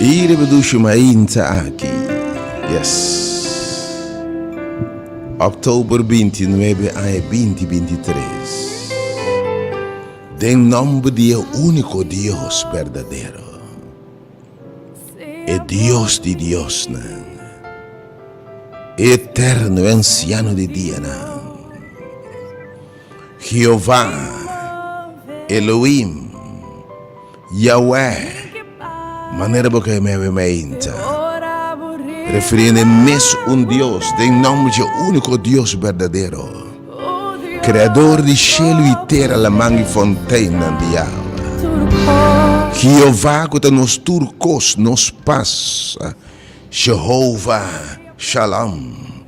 E reproduci mainta aki. Yes. Oktober binti nuebe aña binti binti tres. Den nomber di e unico Dios berdadero. E Dios di diosnan. E eterno, e anciano di dianan. Jehová, Elohim, Yahwè, manera bo kai mei mei ainta, refiriendo e mes un Dios den nomber dje único Dios berdadero, Kreador di shelu i tera laman i fonteinnan di yawa. Jehová ku ta nos tur kos, nos pas, Shehova Shalom.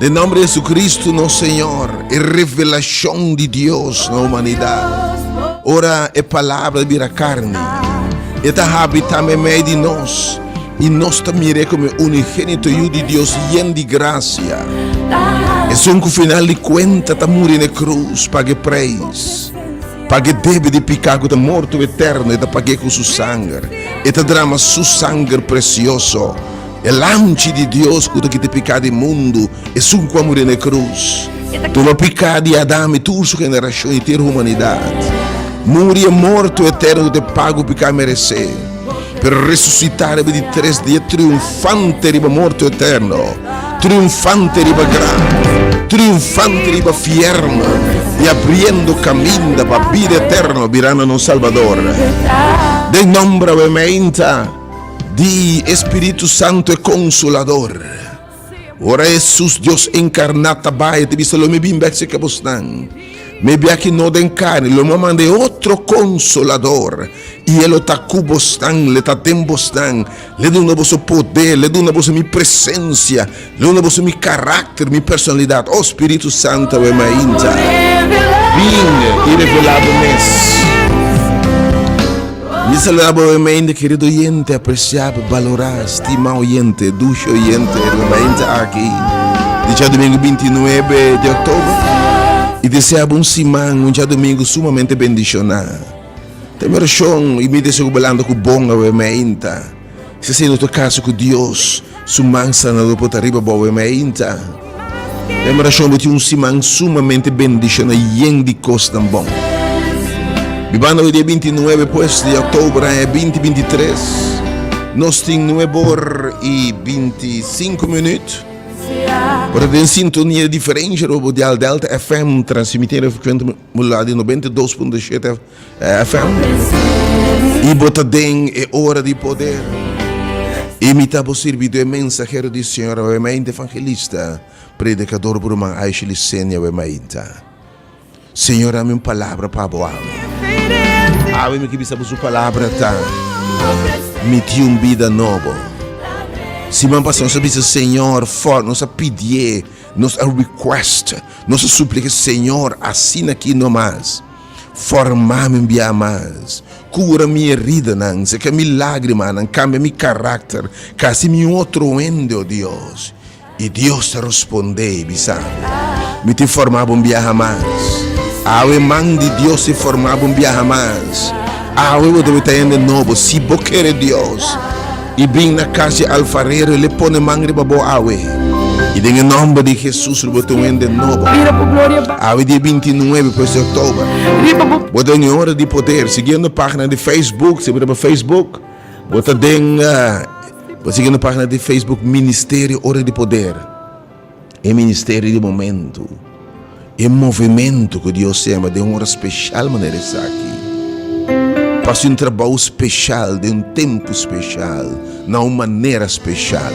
Den nomber di Jesucristo nos Señor, e revelacion di Dios na humanidad, ora e Palabra a bira carni, e ta habita medio di nos y nos ta mir'e como e Unigénito Yu di Dios yen di gracia, esun cu final di cuenta ta muri n'e cruz, pag'e prijs, pag'e debe di pica cu ta morto eterno, e ta pag'e cu Su sanger, e ta drama Su sanger precioso. E lamchi di Dios cu ta kiti picá di mundu, esun cu a muri n'e cruz, tuma picá di Adam i tur su generacion i ter humanidad. Muri e morto eterno cu ta e pago picá merecé, pero resucitá riba di tres dia triunfante riba morto eterno, triunfante riba graf, triunfante riba fiern i abriendo caminda pa bida eterno birando nos Salbador. Den nomber awe meinta. Di e Spiritu Santu e Konsolador. Ora Hesus, Dios enkarná, ta bai, e ta bisa, Lo mi bin bèk serka bosnan. Mi bia aki no den karni, lo mi a manda e otro Konsolador, i e lo ta ku bosnan, le ta den bosnan. L'e duna boso poder, l'e duna boso mi presensia. Lo na boso mi karakter, mi personalidat, oh Spiritu Santu awe mainta, bin i revelá bo mes. Mi saluda bo awe mainta kerido oyente, apresiá, balorá, stimá oyente, dushi oyente awe mainta aki dicha domingo binti nuebe di oktober i deseá bo un siman, un djadomingo sumamente bendishoná. Ta mi orashon i mi deseo ku bo lanta ku bon awe mainta. Si asina no ta kaso ku Dios, su man sanador por ta riba bo e mainta. E manashon bo tin un siman sumamente bendishona yen di kosnan bon. Bibando e dia binti nuebe pues di oktober aña binti binti tres. Nos tin nuebe or i binti sinku minüt. Bo ta den sintonia di diferensha, Robo Dial Delta FM, transmitiendo e frekuensia modulada di noventa i dos punto shete. FM y bo ta den e hora di poder y mi ta bo sirbido e mensahero di Señor awe mainta evangelista predicador bruman Aisha Licenia awe mainta Señor dami un palabra pa bo awe awe mi ke bisa bo su palabra ta mi tin un bida nobo siman pasa nos a bisa Señor for nos a pidié nos a request nos a suplica Señor asina ki no mas. Forma mi bia mas, cura mi eridanan, seca mi lagrimanan, cambia mi caracter, c'haci mi un otro hende, oh Dios. Y Dios a responde y bisa, Mi tin forma bo un biaha mas, awe man di Dios tin forma bo un biaha mas, awe bo ta bita hende nobo, si bo kere Dios. I bin na cas di alfarero, el e pone man riba bo awe, i den e nomber di Jesus lo bo tin un hende nobo. Awe dia binti nuebe pues di october, bo ta den e hora di poder. Siguiendo pagina di Facebook, si bo riba Facebook, bo ta den, bo siguiendo pagina di Facebook Ministerio Ora di Poder. E ministerio di momentu, e movementu ku Dios tema den un ora speshal manera esaki, pa hasi un trabou speshal den un tempu speshal, na un manera speshal.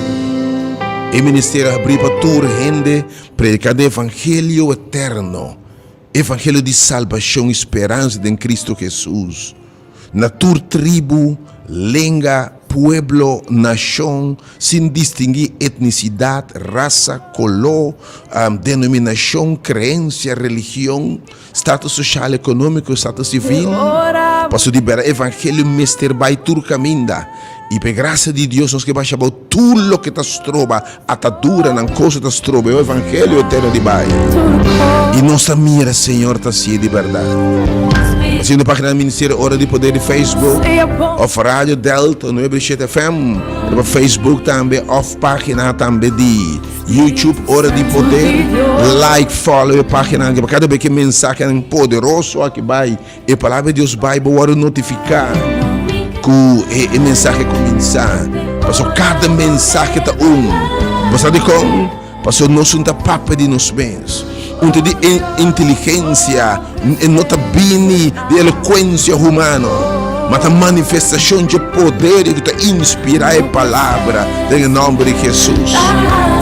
E ministerio a habrí pa tur hende, predikando e evangelio eterno. Evangelio di salbashon i speransa den Kristu Hesus na tur tribu, lenga, pueblo, nashon, sin distingi etnisidat, rasa, koló, denominashon, kreensia, religion, status soshal, ekonómiko, status sivil. Paso di bera evangelio mester bai tur kaminda, i p'e grasia di Dios nos ke basha bou tur loke ta stroba. Atadura nan kosa ta strobo e evangelio eterno di bai i nos ta mira Señor ta haci di berdad. Haciendo pagina di Ministerio Ora di Poder di Facebook of Radio Delta nuebe di shete FM riba Facebook tambe of pagina tambe di YouTube Ora di Poder. Like follow e paginan aki pa cada bes cu mensahenan poderoso aki bai. E Palabra di Dios bai, bo wòrdu notifiká ku e mensahe a kuminsá. Pasó kada mensahe ta un. Bo sa dikon? Pasó nosun ta papia di nos mes. Un ta di e inteligensia, e no ta bini di elokuensia humano, ma ta manifestashon dje poder di ku ta inspirá e Palabra den e nòmber di Hesus.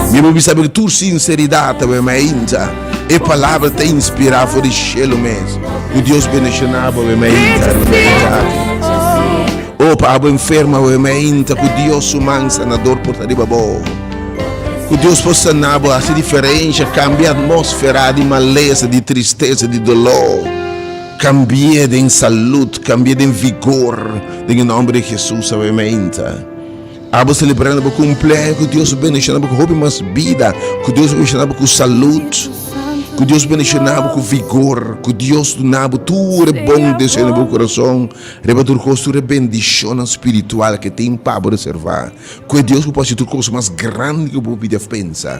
Mi a bo bisa bo tur sinseridat awe, mainta. E palabra ta inspira for di shelu mes. Ku Dios bendishona abo e meinta na Merica aki. O pa abo enfermo abo e meinta ku Dios su man sanador por ta riba bo. Ku Dios por sana bo hasi diferensha kambia atmosfera di malesa di tristesa di doló kambie den salud kambie den vigor den e nomber di Jesus abo e meinta. Abo selebrando bo kumplei ku Dios bendishona bo ku hopi mas bida ku Dios bendishona bo ku salut ku Dios bendishona bo ku vigor ku Dios duna bo tur e bon deseo riba bo kurason riba tur kos tur e bendishonnan spiritual ku e tin pa bo reservá ku e Dios ku por hasi tur kos mas grandi ku bo hopi def pensa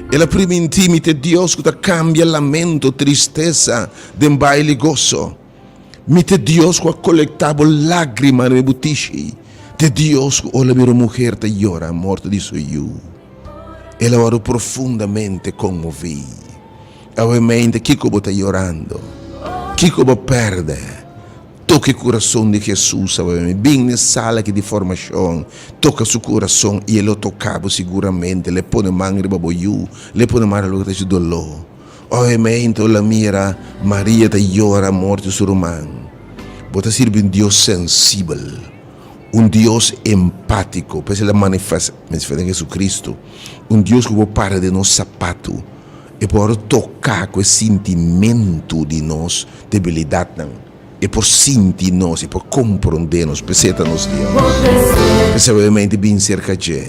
El a primintí mi t'e Dios ku ta kambia lamento, tristesa, den baile i goso. Mi t'e Dios ku a kolektá bo lágrima riba bo tishi, t'e Dios ku ola mira un muher ta yora morto di su yu. El a wòrdu profundamente konmoví. Awe, mente, kiko bo ta yorando? Kiko bo pèrdè? Toca e curason di Jesús a bem. Bin ne sala aki di formacion, toca su curason y e lo toca bo siguramente. Le pone man riba bo yu, le pone man riba loke ta haci dolo. Obviamente bo la mira Maria ta yora morti su ruman. Bo ta sirbi un Dios sensibel, un Dios empatico, p'esei la manifestan Jesucristo, un Dios cu bo para den nos sapatu. E por toká ku e sintimentu di nos debilidatnan. E por sinti nos, e por komprondé nos. P'esei ta nos Dios. P'esei we mente bin serka dje.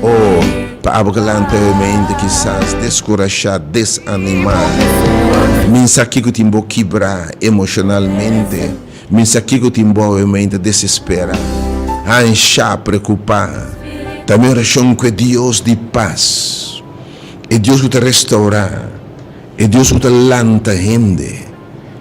O pa abo kelanti we mente kisas deskurashá, desanimá. Mi sa kiko tin bo kibrá emoshonalmente. Mi sa kiko tin bo we mente desesperá, hanshá, preokupá. Ta mi orashon ku e Dios di pas. e Dios ku ta restaurá, e Dios ku ta lanta hende,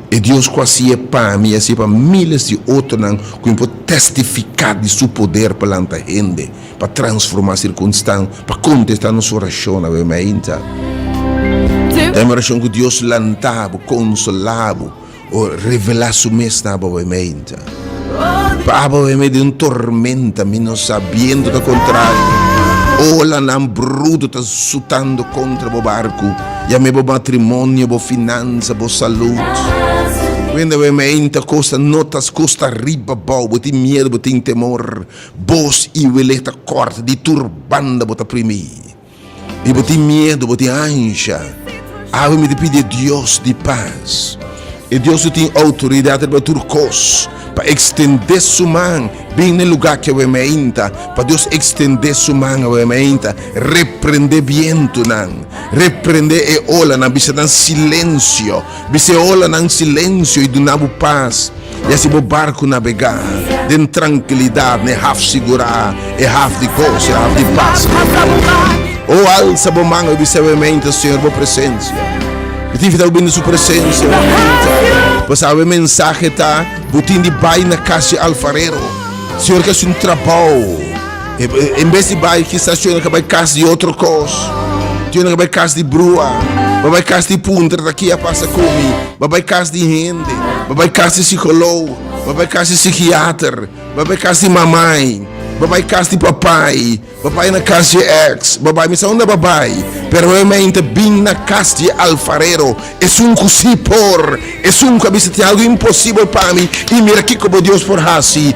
e Dios ku a siña pa mi i a siña pa míles di otronan ku mi por tèstifiká di su poder pa lanta hende, pa transformá sirkunstan, pa kontestá nos orashonnan. Awor mi a hinta. Ta mi orashon ku Dios lanta bo, konsolá bo. o revela su mes na abo e meinta. Pa abo e medio un tormenta mi no sa biento ta contrario olanan bruto ta sutando contra bo barco ya me bo matrimonio bo finanza bo salud cuenda bo e meinta cosnan no ta custa riba bao bo tin miedo bo tin temor bos y wele ta corta di tur banda bo ta primi. i bo tin miedu, bo tin ansha, awe mi ta pidi e Dios di pas, e Dios ku tin outoridat riba tur kos, pa ekstendé su man bin na e lugá ki awe mi a inta, pa Dios ekstendé su man awe mi a inta, reprendé bientunan, reprendé e olanan, bisa nan, Silensio! Bis'e olanan silensio i duna bo pas, i asi bo barku nabegá den trankilidat, n'e haf sigurá, e haf di goso, e haf di pas. O alsa bo man, obi sabiamente su Señor bo presensia. Bo ta invitá bo bini su presensia oranti, pasá bo e mensahe ta, Bo tin di bai na kas di alfarero. Señor ta hasi un trabou. En bes di bai kisas tionan ka bai kas di otro kos, tionan ka bai kas di brua, ba bai kas di puntra ta ki a pasa ku mi, ba bai kas di hende, ba bai kas di sikolog, ba bai kas di sikiater, ba bai kas di mamai, ba bai kas di papai, ba bai na kas di ex, ba bai mi sa unda ba bai, pero e mei ta bin na kas di alfarero, esun ku si por, esun ku a bisa tin algu imposibel pa mi, i mira kiko bo Dios por hasi.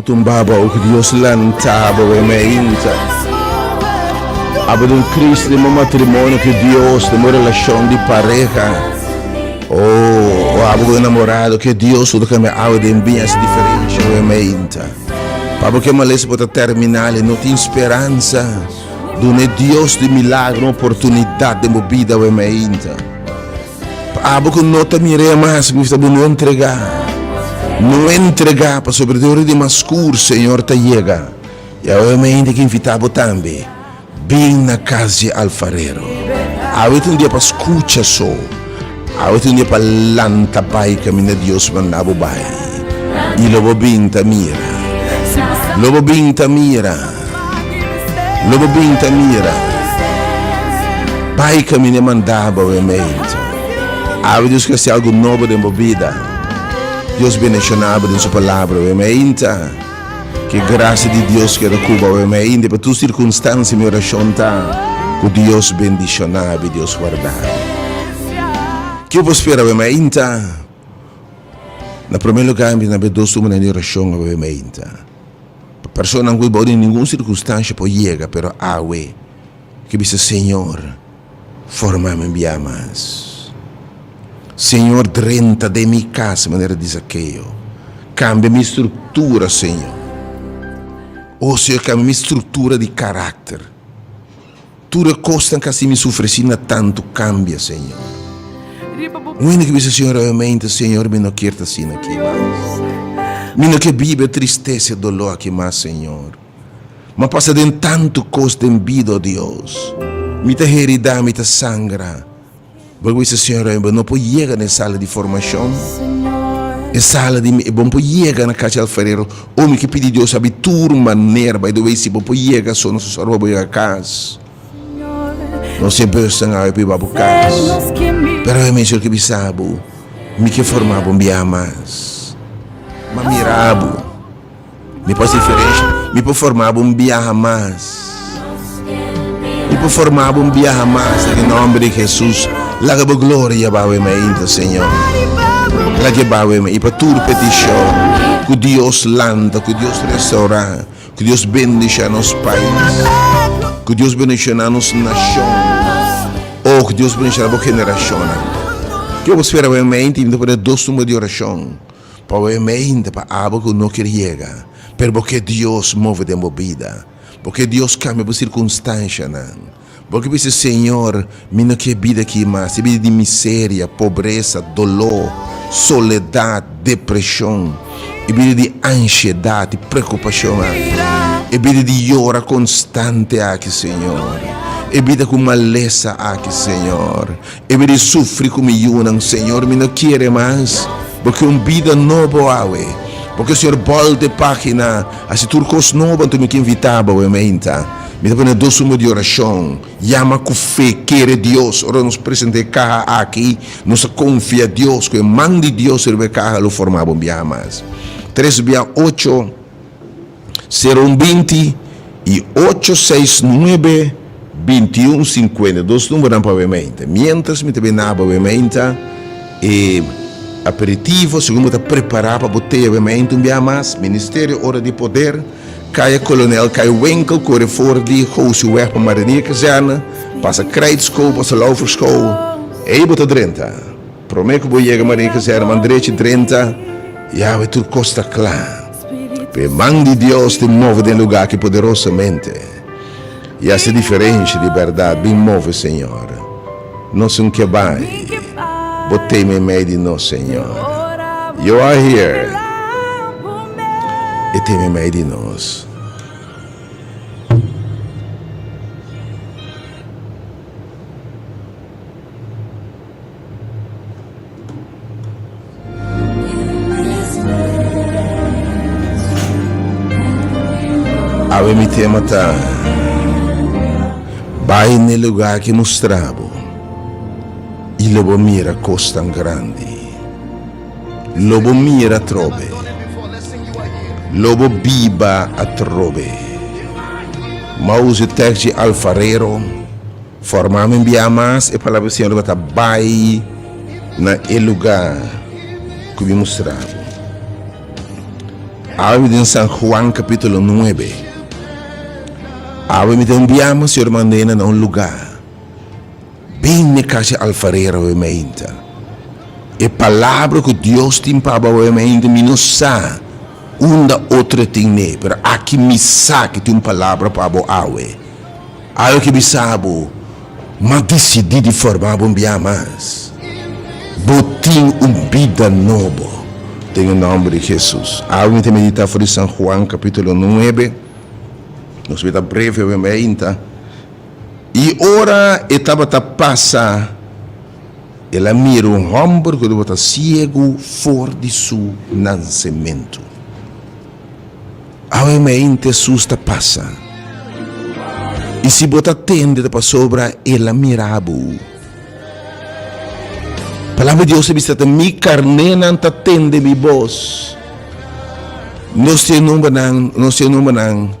Tumbaba oki Dios lantaba bo mi ainta abo di un kris den bo matrimonio ku Dios den bo relashon di pareha o abo ku un enamorado ku Dios lo kambia awe den bin hasi diferensha bo mi ainta pabo ke males por ta terminal i no tin speransa duna e Dios di milagro un oportunidat den bo bida bo mi ainta. Pa abo ku no ta mir'é mas, mi ta bo no entregá, no entregá, pasobra di ora di mas skur Señor ta yega. I awe mi a hende ki invitá bo tambe, bin na kas di alfarero. Awe ta un dia pa skucha so, awe ta un dia pa lanta bai kaminda Dios manda bo bai, i lo bo bin ta mira, lo bo bin ta mira. Lo bo bin ta mira. Bai camin'e mandá bo e meid. Awe Dios crece algo nobo den bo bida. Dios beneccioná bo den su Palabra oe meid. K'e gracia di Dios keda cu bo oe meid. Dep'e tur circunstancia mi oracion ta cu Dios bendiciona bo y Dios guarda bo. Ki'e bo spera oe meid? Na prome lugar mi na b'e dos tur manera di oracion oe meid. Personanan ku i bou den ningun sirkunstansha por yega, pero awe ku i bisa, Señor, forma mi bia mas. Señor, drenta den mi kas manera di Zakeo. Kambia mi struktura, Señor. O Señor, kambia mi struktura di karakter. Tur e kosnan kasi mi sufresí na tantu kambia, Señor. Wende ku bisa, Señor, ovemente, Señor, mi no kier ta asina aki mas. Mi no ke biba e tristesa, e doló aki mas, Señor. Mi a pasa den tantu kos den bida, o Dios. Mi ta heridá, mi ta sangra. Bo a bisa, Señor, mi bo no por yega na e sala di formacion, e sala di mi, bo no por yega na cashi alfarero, o mi ke pidi Dios abi tur manera, bay do bay si bo por yega so nos a sor pa bo yega cas, nos e bus ta ngau pa bo cas, pero bay mi, Señor, ke bisa bo, mi ke forma bo, mi bia mas, mi a mira bo. Mi por haci diferencia. Mi por forma bo un biaha mas. Mi por forma bo un biaha mas en e nomber di Jesús. Laga bo gloria a bawee me ainta Señor. Laga bawee me y pa tur petición cu Dios lanta, cu Dios restaura, cu Dios bendiciona nos pais, cu Dios bendiciona nos nación, oh cu Dios bendiciona bo generacionnan. Yo a bo spera bawee me ainta y mi ta pone dos tumber di oración. Pawén mi ainda pa abo ku no kier yega, pero bo kier Dios move den bo bida. Bo kier Dios kambia bo sirkunstanshanan. Bo ke bisa, Señor, mi no kier bida aki mas, e bida di miseria, pobresa, doló, soledat, depreshon, e bida di anshiedat i prekupashon aki, e bida di yora konstante aki, Señor, e bida ku malesa aki, Señor. Ebe di sufri ku mi yunan, Señor, mi no kere mas. Bo ke un bida nobo awe. Bo ke, Señor, bòlt e página, hasi tur kos nobo. Anto mi ke invitá Bo e mainta. Mi ta pone dos suma di orashon. Yama ku fe, kere Dios. Ora nos presentá e kaha aki, nos a konfia Dios ku e man di Dios riba e kaha lo formá Bo biaha mas. Tres bia ocho. Sero un binti i ocho seis nuebe binti un sinkuenta. Dos numbernan pa wementa. Miéntras mi ta bai naba wementa e aperitivo, segun bo ta prepará pa bo tea wementa un biaha mas, Ministerio Ora di Poder, Kaya Kolonel Kai Winkel, kore for di Gousey Wèg pa Marinier Kazerne, pasa Krijtskool, pasa Lauferskool, ei bo ta drenta. Promé ku bo yega Marinier Kazerne man drechi drenta, ya awor tur kos ta kla. Pe man di Dios tin move den lugá aki poderosamente, i a haci diferensha di berdad. Bin move, Señor, nos un ke bai Bo teme mei di nos, Señor. You are here, e teme mei di nos. Awe mi tema ta, Bai n'e lugá ki mustra bo, i lo bo mira kosnan grandi. Lo bo mira atrobe, lo bo biba atrobe. Mauzi Tèkji Alfarero. Forma mi bia mas e palabra di Señor tabata bai na e luga cu mi mustra bo. Awe mi den San Juan capitulo nuebe. Awe mi ta un biaman Señor manda na un luga. Bin ne cashi alfarero awe mi ainta. E palabra cu Dios tin pa bo awe mi ainta mi no sa unda otro tin ne pero aki mi sa cu tin un palabra pa bo awe. Algo ki bisa bo, M'a disidí di forma bo un bia mas. Bo tin un bida nobo. Den e nòmber di Hesus. Awe ta meditá for di San Juan kapítulo nuebe. Nos mester ta breve awe mei ainda. I ora e tabata pasa, el a mira un hòmber ku tabata siegu for di su nansementu. Awe mi a inte sus ta pasa. I si bo ta tende ta pasobra el a mira bo. Palabra di Dios a bisa ta mi carnenan ta tende mi bos. Nos tin numbernan, nos tin numbernan.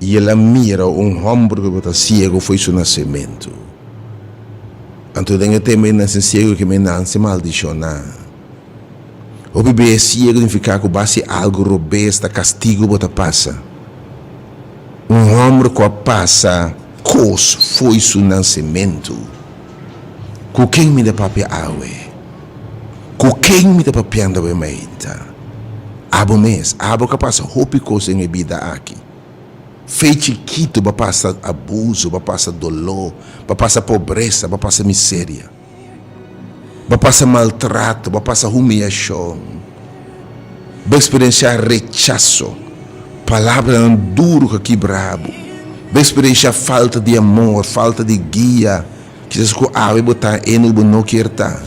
i el a mira un hòmber ku ta siegu fo'i su nasementu. Anto den e tempu di nase siegu ke mi nanse maldishoná. Hopi bia siegu nifiká ku base algu robes ta kastigu bo ta pasa. Un hòmber ku a pasa kos fo'i su nasementu. Ku ken mi ta papia awe? Ku ken mi ta papiando awe mainta? Abo mes, abo ka pasa hopi kos den e bida aki. Fe chikitu ba pasa abuzu, ba pasa doló, ba pasa pobresa, ba pasa miseria, ba pasa maltrato, ba pasa humiyashon. Bo experiencia rechazo, palabranan duro cu a kibra bo. Bo experiencia falta di amor, falta di guia, kisas cu awe bo ta hende cu bo no kier ta.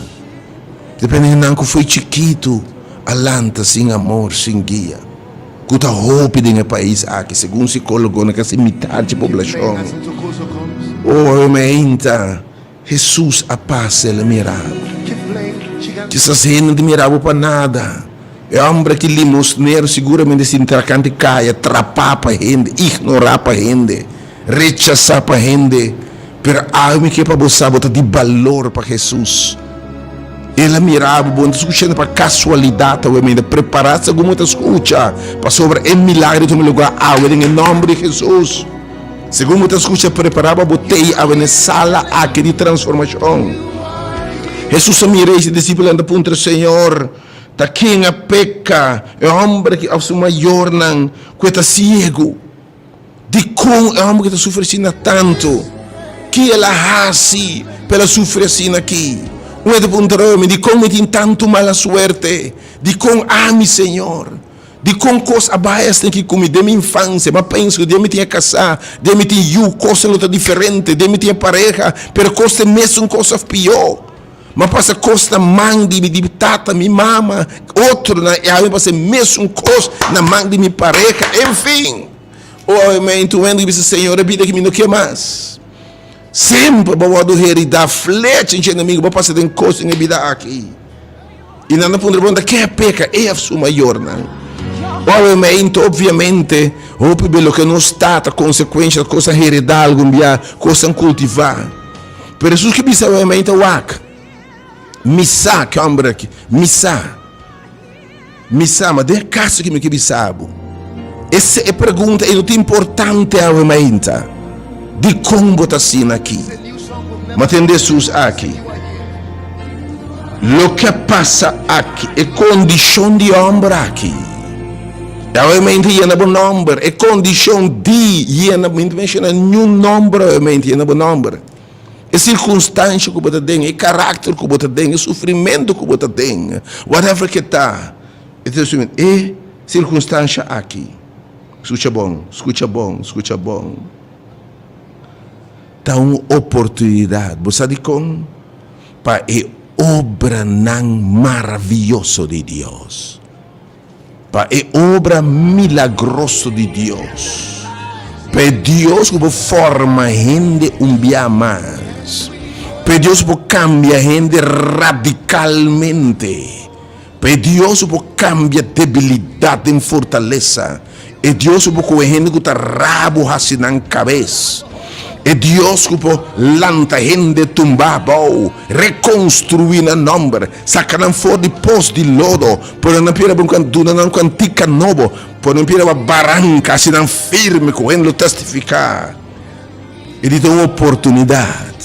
Depende hendenan cu fo'i chikito a lanta sin amor, sin guia, cu ta hopi den e pais aki, segun psicologonan casi mitad di poblacion. Owe mainta. Hesus a pasa, el a mira. Kisas hende ta mira bo pa nada. E homber aki, limosnero, seguramente a sinti trakante, cay atrapa pa hende, ignora pa hende, rechasa pa hende. Pero awe mi ke pa bo sa, bo ta di balor pa Hesus. El a mira bo, bo no ta scuchando pa casualidad awe, mi ta prepara segun bo ta scucha, pasobra e milagro a tuma lugar awe den e nomber di Hesus. Segun bo ta scucha, preparaba bo tei a wene sala aki di transformacion. Jesus a mira y si discipulonan ta puntra, Señor, ta ken a peca, e homber aki of su mayornan cu e ta ciego? Dicon e homber aki ta sufri asina tanto? Ke el a haci pa el a sufri asina aki? Un e ta puntra, Dicon mi tin tanto mala suerte? Dicon ami, Señor? Di kon kos a bai esnan ki kumi den mi infansia, mi a pensa ku den mi tin e kasá, den mi tin yu, kosnan lo ta diferente, den mi tin e pareha, pero kos ta e mesun kos òf pió. Mi a pasa kos na man di mi tata, mi mama, otronan, i awe mi pasa e mesun kos na man di mi pareha. Enfin, oe mi a intuendo i bisa, Señor, e bida aki mi no ke mas. Semper bo wordo heridá flecha dje enemigo. Bo pasa den kos den e bida aki. I nan a puntra bo, Unda ke a peka e of su mayornan? Owe me ei, nto obviamente hopi be loke nos tata, konsekuensha ta kosnan heredá algun bia, kosnan kultivá. Pero Hesus ke bisa owe me ei, Ta wak, Mi sa ke hòmber aki, Mi sa. Mi sama den e kaso ki mi ke bisabu. Ese e pregunta i no ta importante awe mainta dikon bo ta asina aki. Ma tende Hesus aki. Loke a pasa aki, e kondishon di hòmber aki, i awe mainta yena bo nòmber. E kondishon di yena, mi no ta menshona niun nòmber awe mainta, yena bo nòmber. e circunstancia cu bo ta den, e caracter cu bo ta den, e sufrimento cu bo ta den, whatever ke ta, e circunstancia aki, scucha bon, scucha bon, scucha bon, ta un oportunidad, bo sa dicon? Pa e obranan maraviyoso di Dios. pa e obra milagroso di Dios, pa e Dios ku por forma hende un bia mas, pa e Dios ku por kambia hende radikalmente, pa e Dios ku por kambia debilidat den fortalesa. E Dios cu por coge hende cu ta rabo haci nan cabes. E Dios cu por lanta hende tumba bao, reconstrui nan nomber, saca nan for di pos di lodo, pone nan pie riba un duna nan cuantica nobo, pone nan pie riba baranca, haci nan firme cu hende lo testifica. E di ta un oportunidad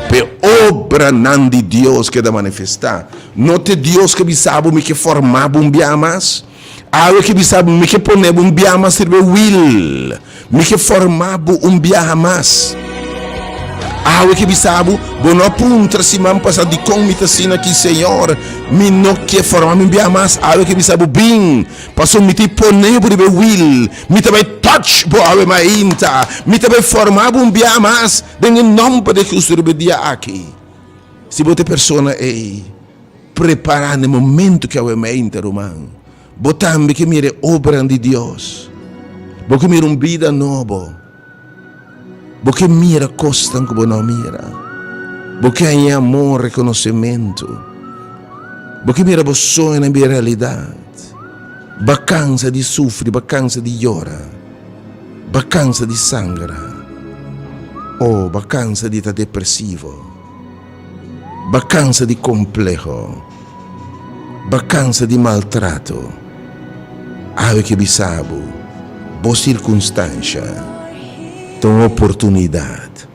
pa e obranan di Dios keda manifesta. No ta e Dios cu a bisa bo mi ke forma bo un bia mas? Awe ki bisa mi ke pone bo un biaha mas sirbi wil mi ke forma bo un biaha mas awe ki bisa bo bo no a puntra siman pasa dikon mi ta sina ki señor mi no ke forma mi un biaha mas awe ki bisa bo bin paso mi ta i pone bo riba e wil mi ta bai touch bo awe mainta mi ta bai forma bo un biaha mas den e nomber de Jesus riba e dia aki si bo ta e persona ei. Prepará n'e momentu ke awe meinta, ruman. Bo tambe ke mira e obranan di Dios. Bo ke mira un bida nobo. Bo ke mira kosnan ku bo no a mira. Bo ke haña e amor, rekonosimentu. Bo ke mira bo soñonan bira realidat. B'a kansa di sufri, b'a kansa di yora, b'a kansa di sangra, o b'a kansa di ta depresivo. Bakansa di kompleho. Bakansa di maltrato. Awe ke bisa bo, bo sirkunstansha ta un oportunidat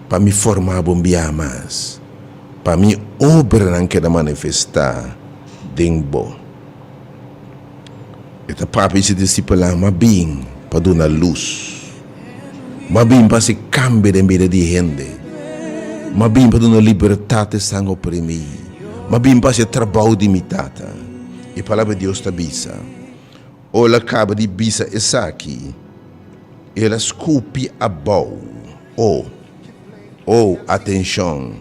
pa mi forma bo un biaha mas, pa mi obranan keda manifestá den bo. E ta papia si disipelá m'a bin pa duna lus. M'a bin pa hasi kambio den bida di e hende. M'a bin pa duna libertat e san oprimí. M'a bin pa hasi e trabou di mi Tata. E Palabra di Dios ta bisa. Ora el a kaba di bisa esaki, el a skupi abou, O, o, atenshon!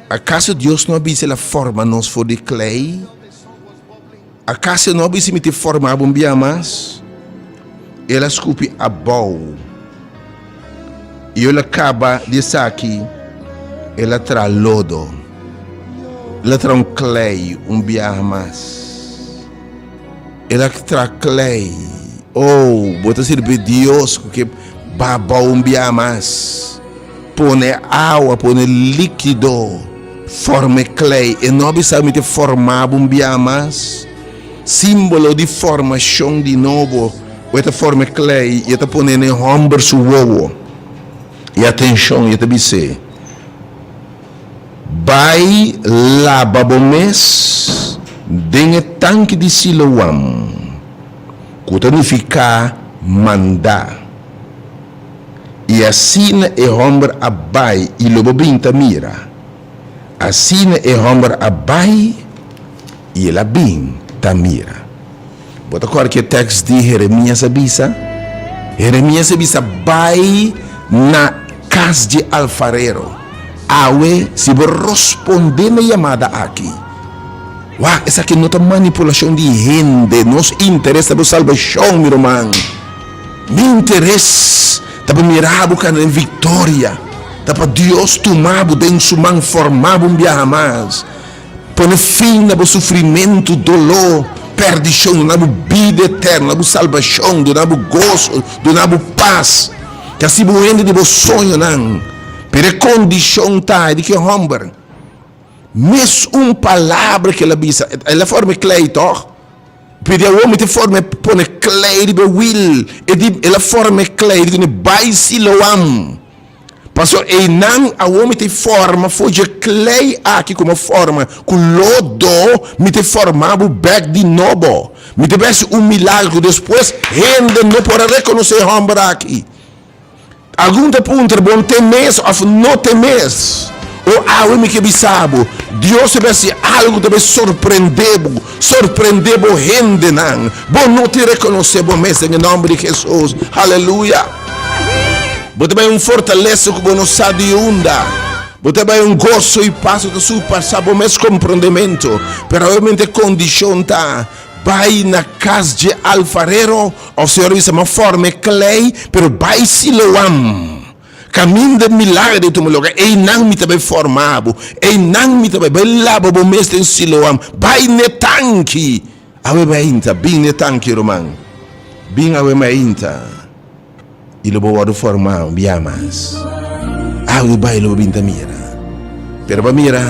Akaso Dios no a bisa el a forma nos for di klei? Akaso el no a bisa mi tin forma bo un bia mas? El a skupi abou i ora el a kaba di esaki el a traha lodo, el a traha un klei un bia mas. El a traha klei, oh, bo ta sirbi Dios ku ke babou un bia mas. Pone awa, pone likido, forma e klei. E no bisa a miti forma bo un bia mas. Simbolo di formashon di nobo. Bo e ta forma e klei i e ta pone na e hòmber su wowo i atenshon i e ta bis'e, Bai laba bo mes den e tanki di Siloam, ku ta nifiká mandá. i asina e hòmber a bai i lo bo bin ta mira. Asina e hòmber a bai i el a bin ta mira. Bo ta kòrda ke tèks di Heremias a bisa? Heremias a bisa, Bai na kas dje alfarero. Awe, si bo rospondé na yamada aki, wak, esaki no ta manipulashon di hende. Nos interes ta bo salbashon, mi ruman. Mi interes ta pa mira bo kanda den victoria, ta pa Dios tuma bo den su man, forma bo un biaha mas, pone fin na bo sufrimentu, doló, perdicion, duna bo bida eterno, duna bo salbacion, duna bo gozo, duna bo paz, y asi bo hende di bo soñonan, pero e condicion ta di ki homber, mes un palabra ke el a bisa, el a forma e klei toch? Pidi awor mi ta forma e pone klei riba e wiel, e di el a forma e klei riba e bai Siloam. Paso einan awor mi ta forma foja e klei aki ku mi a forma ku lodo, mi ta forma bo bek di nobo. Mi ta besi un milagro ku despues hende no por a rekonosé e hòmber aki. Algun ta puntra, Bon tin mes of no tin mes? O awe mi ke bisa bo, Dios ta bihasi algo ta bai sorprende bo, sorprende bo hendenan. Bo no tin rekonosé bo mes den e nomber di Hesus. Haleluya! Bo ta bai un fortalesa ku bo no sa di unda. Bo ta bai un goso i pas ku ta surpasa bo mes komprondementu. Pero awe mente kondishon ta. Bai na cas dje alfarero, of señor a bisa ma forma e clei, pero bai Siloam, camin den milagre di tuma loga, einan mi ta bai forma bo, einan mi ta bai, bai laba bo mes den Siloam, bai n'e tanki, awe mainta, bin n'e tanki ruman, bin awe mainta. y lo bo wordo forma un bia mas. Awe bo bai lo bo bin ta mira. Pero pa mira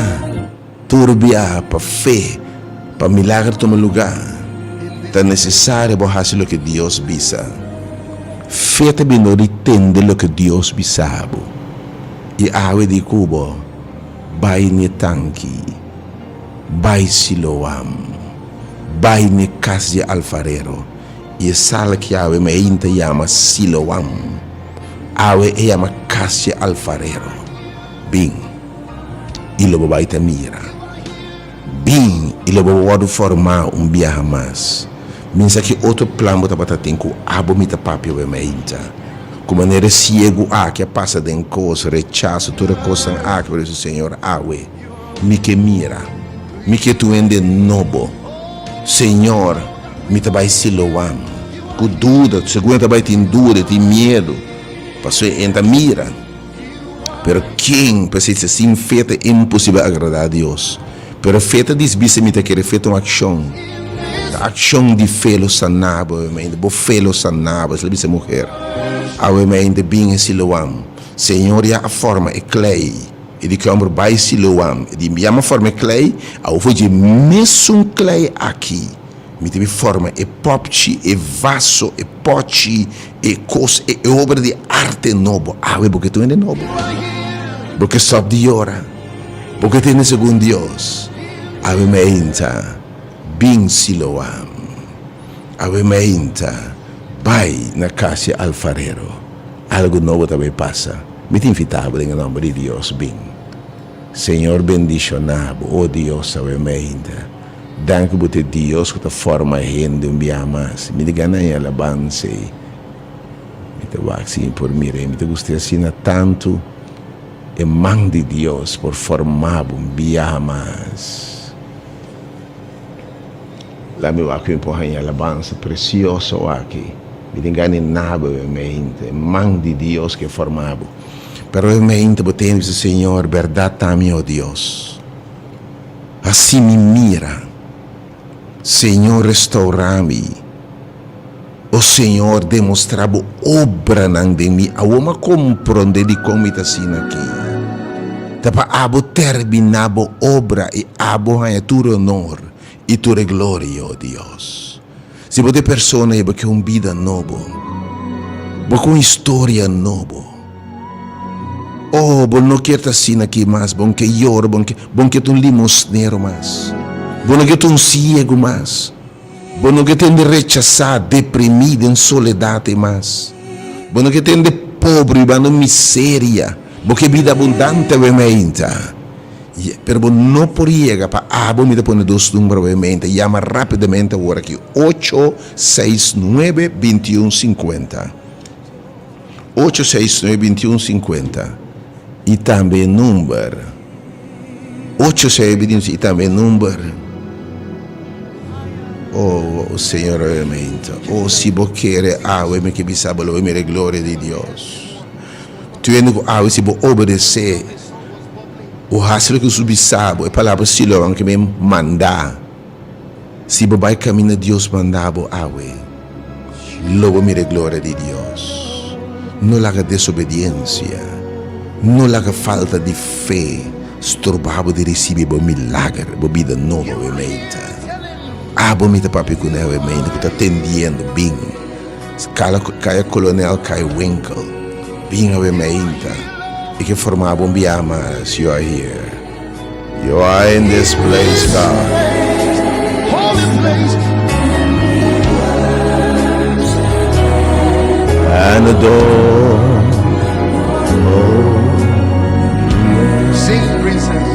tur bia pa fe pa milagro tuma luga ta necesario bo haci loke Dios bisa. Fe ta bini ora di tende loke Dios bisa bo. Y awe di cu bo bai n'e tanki, bai Siloam, bai n'e cas di alfarero I e sala ki awe Main ta yama Siloam, awe e yama Kas di e Alfarero. Bin, i lo bo bai ta mira. Bin, i lo bo bo wòrdu fòrmá un biaha mas. Min sa ki otro plan bo tabata tin ku abo mi ta papia bo e mainta. Ku manera e siegu aki a pasa den kos, rechaso, tur e kosnan aki, por eso, Señor, awe. Mi ke mira, mi ke tu hende nobo. Señor, mi ta bai Siloam. Ku duda, segun e ta bai tin duda, e tin miedu, pasobra e ta mira. Pero ken pa esei fla, Sin fe ta imposibel agradá Dios? Pero fe ta disbisa mi ta kere, fe ta un akshon. Ta akshon di fe lo sanabo awe mainta, bo fe lo sanabo, es lo bisa e muher. Awe mainta bin e Siloam, Señor ya a forma e klei. E di kòmber bai Siloam, e di yama fòrma e klei, awor fo dje mesun klei aki mi ta bin fòrma e pòpchi, e vaso, e pòchi, e kos, e obra di arte nobo. Awe bo ke tuma den nobo. Bo ke stòp di yora. Bo ke tende segun Dios. Awe mi a hinta, Bin Siloam. Awe mi a hinta, Bai na kas e alfarero. Algu nobo ta bai pasa. Mi ta invitabo den e nomber di Dios, bin. Señor bendicionabo, o Dios sabe mi ainda. Danki bo ta e Dios cu ta forma e hende un biaha mas. Mi ta gana e alabansa ey. Mi ta wak si mi por mira ey. Mi ta gust'e asina tantu. E man di Dios por formabo un biaha mas. La mi wak fin por haña alabansa presioso aki. Mi tin gani naba we mente, man di Dios ke forma bo. Pero we mente bo tende bisa, Señor, berdad ta mi, o Dios. Haci mi mira, Señor, restaura mi, o Señor, demostra bo obranan den mi. Awor mi a compronde dicon mi ta asina aki. Ta pa abo termina bo obra y abo haña tur honor. i tur e gloria o Dios. Si bo ta e persona ei, bo ke un bida nobo, bo ke un historia nobo. O bo no kier ta asina aki mas, bo no ke yora, bo no ke, bo no ke ta un limosnero mas, bo no ke ta un siegu mas, bo no ke tende rechasá, deprimí den soledat ei mas, bo no ke tende pobre banda un miseria, bo ke bida abundante awe mainta. Pero bo no por yega pa abo mi ta pone dos numero pa e mente yama rapidamente awor aki ocho seis nuebe bintiun sinkuenta ocho seis nuebe bintiun sinkuenta y tambe e number ocho seis nuebe bintiun sinkuenta y tambe e number oh señor oye mente oh si bo kere awe mi ke bisa bo lo bo mira e gloria di Dios tuende ku awe si bo obedece. bo hasi loke bo su bisa, bo e palabra Siloam ke mi manda. Si bo bai kaminda Dios manda bo awe, lo bo mira e gloria di Dios. No laga desobediensia, no laga falta di fe stroba bo di risibi bo milager, bo bida nobo awe mente. Abo mi ta papia ku newe mente ku ta tendiendo bin. Skala ku Kaya Kolonel Kai Winkel bin awe mi ainta e ke formaba un biaha mas, yo a hierr. Yo a in this place, God. and adore. Oh, yeah. Sing, princess.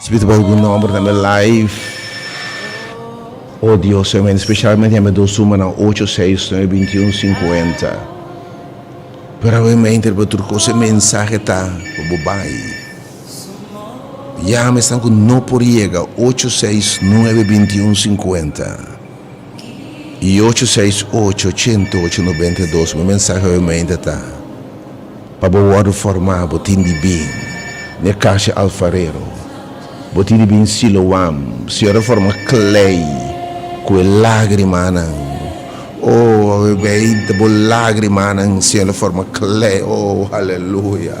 Spiritu boso cu nomber tambe live. Oh Dios te amén specialmente hember dos tumanan ocho seis nueve veintiun cincuenta pero awe me interpel tur cosa e mensahe ta pa bo bay ya me esnan cu no por yega ocho seis nueve veintiun cincuenta. i ocho seis ocho ciento ocho noventa i dos mi mensahe hoymente ta pa bo worde forma bo tin di bin ne Casa Alfarero bo tin di bin Siloam Señor a forma klei ku e lagrimanan oh hoymente bo lagrimanan Señor a forma klei oh aleluya.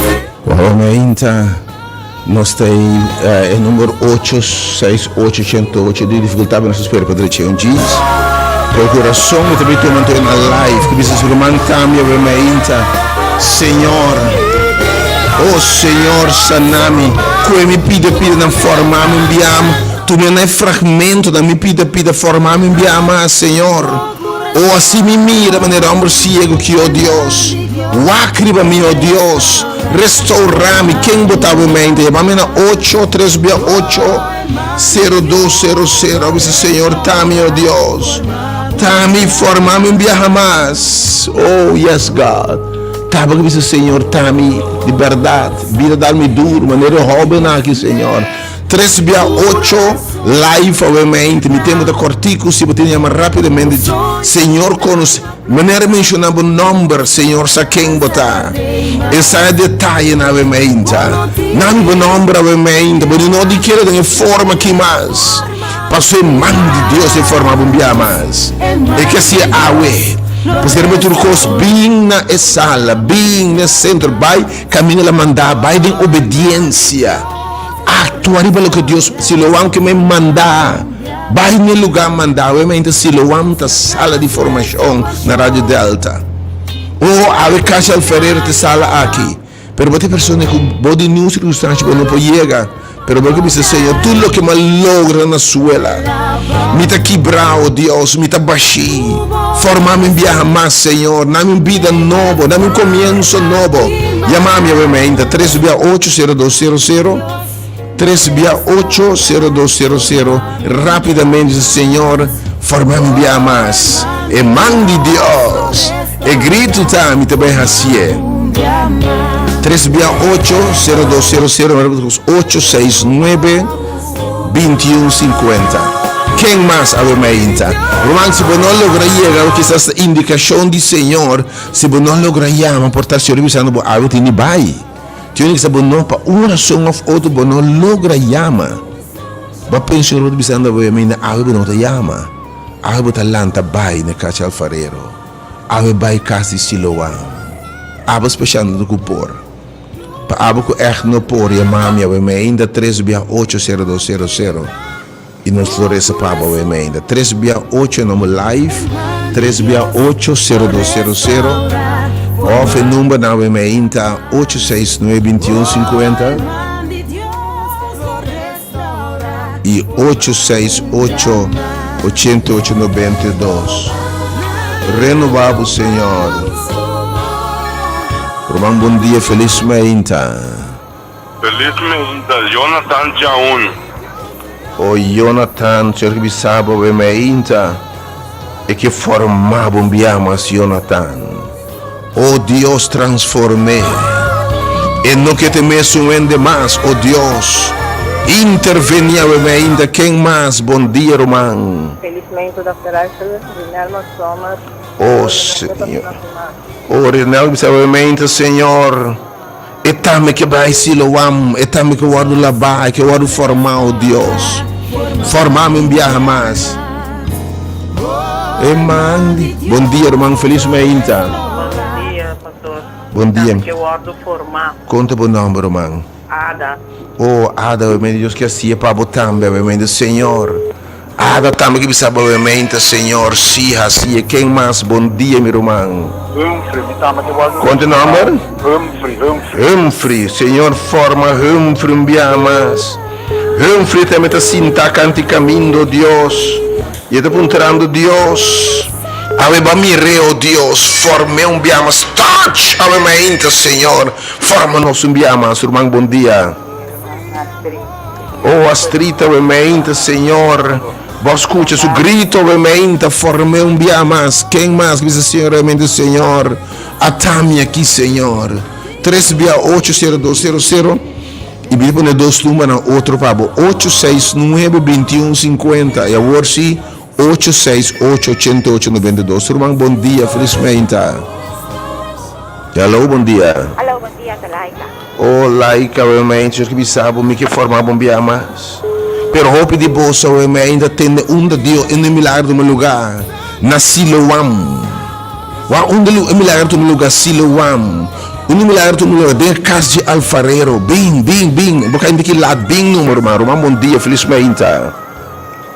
Honainta nos ta ei e number ocho, seis ocho ciento ocho di dificultad nos ta spera pa drecha un jeans. Procuracion mi ta bai tuma anto na live cu bisa Ruman cambia we mainta Señor oh Señor sanami cue mi pida pida nan formamin biaam tu me na e fragmento nan mi pida pida formamin biaam mas Señor. O así mi mira manera homber ciego ki, O Dios, wak riba mi, O Dios, restaura mi. Ken bo ta, bo mente? Yama mi na ocho, tres bia ocho, cero dos, cero cero. A bisa, Señor, ta mi, O Dios, ta mi, forma mi un biaha mas. Oh, yes, God. Tabata bisa, Señor, ta mi, di berdad, bira dal mi duro, manera e hóbennan aki, Señor. Tres bia ocho life awe mente mi tempo ta cortico si bo tin yama rapidamente di Señor conoce manera menciona bo nomber Señor sa ken bo ta esa e detaye na awe mente na mi bo nomber awe mente bo di no di kere den e forma ki mas paso e man di Dios e forma bo bia mas e ke si awe pues kere bo tur cos bing na e sala bing na e centro bay Camino la manda, bay den obediencia, actua riba loke Dios, Siloam ke mi manda, bay n'e lugar manda, awe mi ainta Siloam ta sala di formacion na Radio Delta, o awe Cashel Ferreira ta sala aki, pero bo ta e persona ku bo di ningún circunstancia bo no por yega. Pero bo ke bisa, Señor, tur loke m'ha logra na suela, mi ta kibra, o Dios, mi ta bash'é. Forma mi un biaha mas, Señor, dami un bida nobo, dami un komienso nobo. Yama mi awor mainta, tres bia ocho, sero dos, sero, sero, tres bia ocho, sero dos, sero, sero, rapidamente, Señor, forma mi un biaha mas, e man di Dios. E gritu ta, Mi ta bai hasié. Tres bia ocho, sero dos sero sero, mi repet kos, ocho seis nuebe, binti un sinkuenta. Ken mas a wema e inta? Ruman, si bo no logra yega, o kisas ta indikashon di Señor, si bo no logra yama, por ta Señor bisando bo algu tin di bai. Tin ora kisas bo no, pa un rason òf otro, bo no logra yama. Bo pensa Señor bo ta bisando bo, mi na algu bo no ta yama. Algu bo ta lanta bai na kachi alfarero. Awe bai cas di Siloam. Abo specialmente cu por. Pa abo cu echt no por ya mami awe me ainda tres bia ocho zero dos zero zero y nos lo reza pa abo awe me ainda tres bia ocho e nomber live tres bia ocho zero dos zero zero of e number nan awe me ainta ocho seis nuebe binti un cincuenta. y ocho seis ocho, ochenta y ocho noventa y dos. Renoba bo Señor. Ruman bon dia feliz meinta. Feliz meinta Jonathan Chaun. Oh Jonathan señor ki bisabo awe meinta e ke forma bo mbia mas Jonathan. O Dios transform'é. E no ke te mesun hende mas, o Dios. Interveni awe me ainda ken mas, bon dia ruman. Felismente Dòkter Russell, Rinel Mos Sommer, O Señor, o Rinel bisa awe me ainda Señor. E tambe ke bai Siloam, e tambe ke wòrdu labá, e ke wòrdu formá, o Dios. Forma mi un biaha mas. E man di, Bon dia, ruman, felis mainta. Buenos dias, pastor. Bon dia. Tambe ke wòrdu formá. Kon ta bo nòmber, ruman? Ada. O, Ada, bai mainta Dios ke hasié pa bo tambe, bai mainta Señor. Ada tambe ki bisa bovemente señor si hasi e ken mas bon dia mi ruman. Humphrey mi tambe ke wòrdu Konte e nòmber? Humphrey Humphrey Humphrey señor forma Humphrey un bia mas Humphrey tambe ta sinta kantikamindo Dios y e ta puntrando Dios awe bo a mir'e o Dios form'e un bia mas touch awemente señor forma nos un bia mas ruman bon dia. O astrita we meinta, Señor, bo scucha su grito we meinta, forme un bia mas, ken mas bisa Señor we meinta, Señor, ata mi aki, Señor. Tres bia ocho sero dos sero sero y bisa pone dos numbernan otro pa bo ocho seis nuebe binti un cincuenta y awor si. Ocho seis ocho ochenta ocho noventa y dos Ruman bon dia felismeinta Hallo bon dia. Hallo bon dia ta laika. Oh laika we mi ainda quiero bisa bo mi ke forma bo bia mas pero hopi di boso we mi ainda tende unda Dios unda e milagro tuma luga na Siloam wak unda e milagro tuma luga Siloam unda e milagro tuma luga den e cas dje alfarero bin bin bin bo ka inti ki laat bin numa ruman ruman bon dia felismeinta.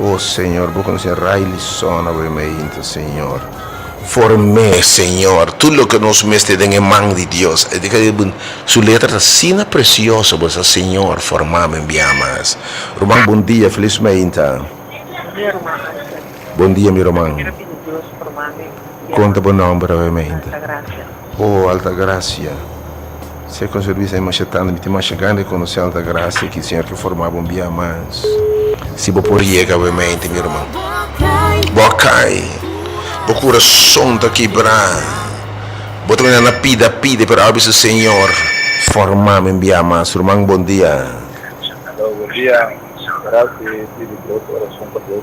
O Señor, bo conoce e raili sona bo e meinta, Señor. Form'é, Señor, tur loke nos mester den e man di Dios. Su letra ta asina precioso, bo sa, Señor, form'am en bia mas. Ruman, bon dia, feliz meinta. Bon dia, Ruman Ansel. Bon dia, mi Ruman. Mi ta pidi Dios form'ame en bia mas. Con ta bo nomber, awe meinta. Tanta gracia. Oh Altagracia, se con su risa e masha tanda, mi tin masha gana di conoce Altagracia, ki señor ki formaba un bia mas. Si bo por yega we mente, mi herman. Bo a cay, bo curason ta kibra, bo ta bini na pida, pide, pero awor bisa señor, forma mi un bia mas, ruman bon dia. Aló, bon dia, gracia, e pidi bo corason pa Dios.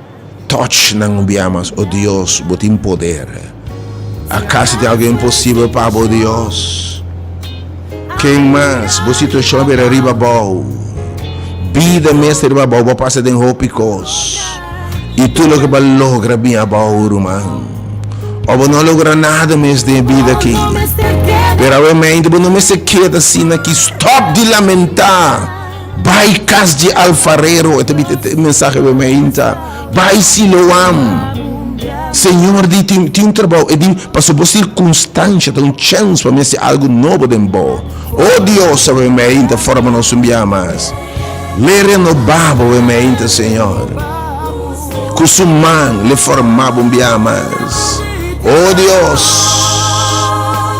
Touch nan un bia mas, oh Dios, bo tin poder. Acaso tin algo imposible pa bo, Dios? Ken mas? Bo situacion a bira riba abao. Bida mester riba abao, bo a pasa den hopi cos. Y tur loke bo a logra bin abao, ruman. O bo no a logra nada mes den e bida aki. Pero awe mente bo no mester keda asina aki. Stop di lamenta. Bai kas di alfarero, e ta bini e mensahe bai mi ainta, bai Siloam, Señor di tin tin un trabou, e di pasobra bo sirkunstansha ta un chèns pa mi hasi algu nobo den bo. O Dios, a bai mi ainta forma nos un biaha mas, lei renobá bo bai mi ainta, Señor. ku su man le formaba un biaha mas. O Dios,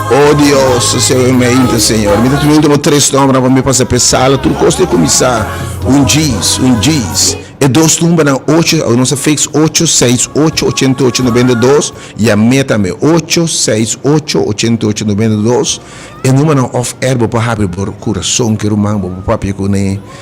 o Dios, e sewe mi a inter, Señor. Mi ta tuma ultimo tres nombernan pa mi pasa p'e sala tur kos ta kuminsá un djis, un djis. E dos numbernan ocho, nos a fiks ocho, seis, ocho, ochenta i ocho, nobenta i dos, i amé tambe, ocho, seis, ocho, ochenta i ocho, nobenta i dos. E numbernan òf èr bo por habri bo kurason ku e ruman bo, bo papia ku un'é.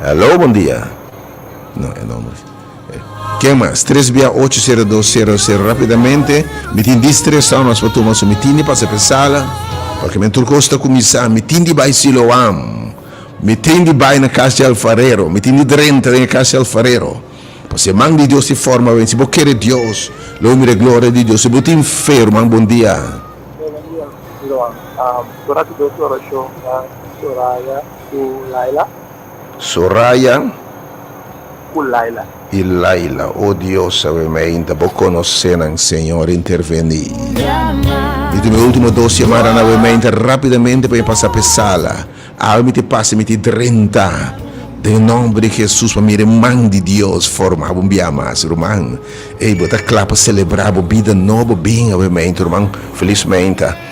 Hello bon dia no e nomber ken mas tres bia ocho sero dos sero sero rapidamente mi tin dis tres hour mas pa tuma so mi tin di pasa pe sala paske mi tur cos ta cuminsa mi tin di bay siloam mi tin di bay na cas di alfarero mi tin di drenta den e cas di alfarero paske man di Dios tin forma wen si bo kere Dios lo bo mira e gloria di Dios si bo tin fe ruman bon dia. Ku Laila. Soraya. Ku Laila. I Laila, O Dios, a weme ainda bo konosé nan, Señor, intervení. Mi tin mi último dos yamada na weme ainda rápidamente pa mi pasá p'e sala. Awe mi te pasa, mi te drenta. Den nòmber di Hesus pa mi ruman di Dios forma bo un bia mas. Ruman, ey, bo ta kla pa selebrá bo bida nobo? Bin awe meinta, ruman, felismeinta.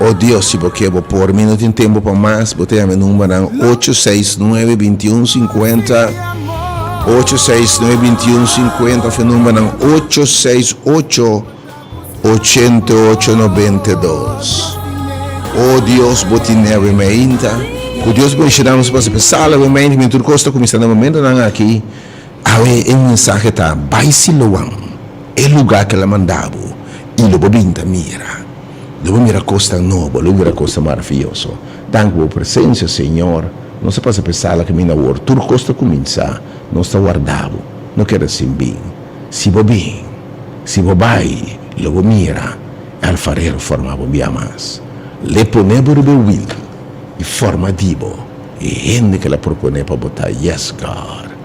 O Dios, si bo ke, bo por. Mi no tin tempu pa mas. Bo ta ya'a mi numbernan, ocho seis nuebe bintiun sinkuenta, ocho seis nuebe bintiun sinkuenta òf e numbernan, ocho seis ocho ochenta i ocho nobenta i dos. O Dios, bo tine awe mainta. Ku Dios bo ishina nos pasa p'e sala awe mainta, mi tur kos ta kuminsá na momentonan aki. Awe e mensahe ta, Bai Siloam, e lugá ke el a manda bo, i lo bo binta mira. Lo bo mira kosnan nobo, lo bo mira kosnan maravioso. Danki bo presensia, Señor. Nos a pasa p'e sala kaminda awor. Tur kos ta kuminsá. Nos ta warda bo. No kere asin bin. Si bo bin, si bo bai, lo bo mira e alfarero forma bo un bia mas. L'e pone bo riba e wil i forma di bo e hende k'el a proponé pa bo ta. Yes, God.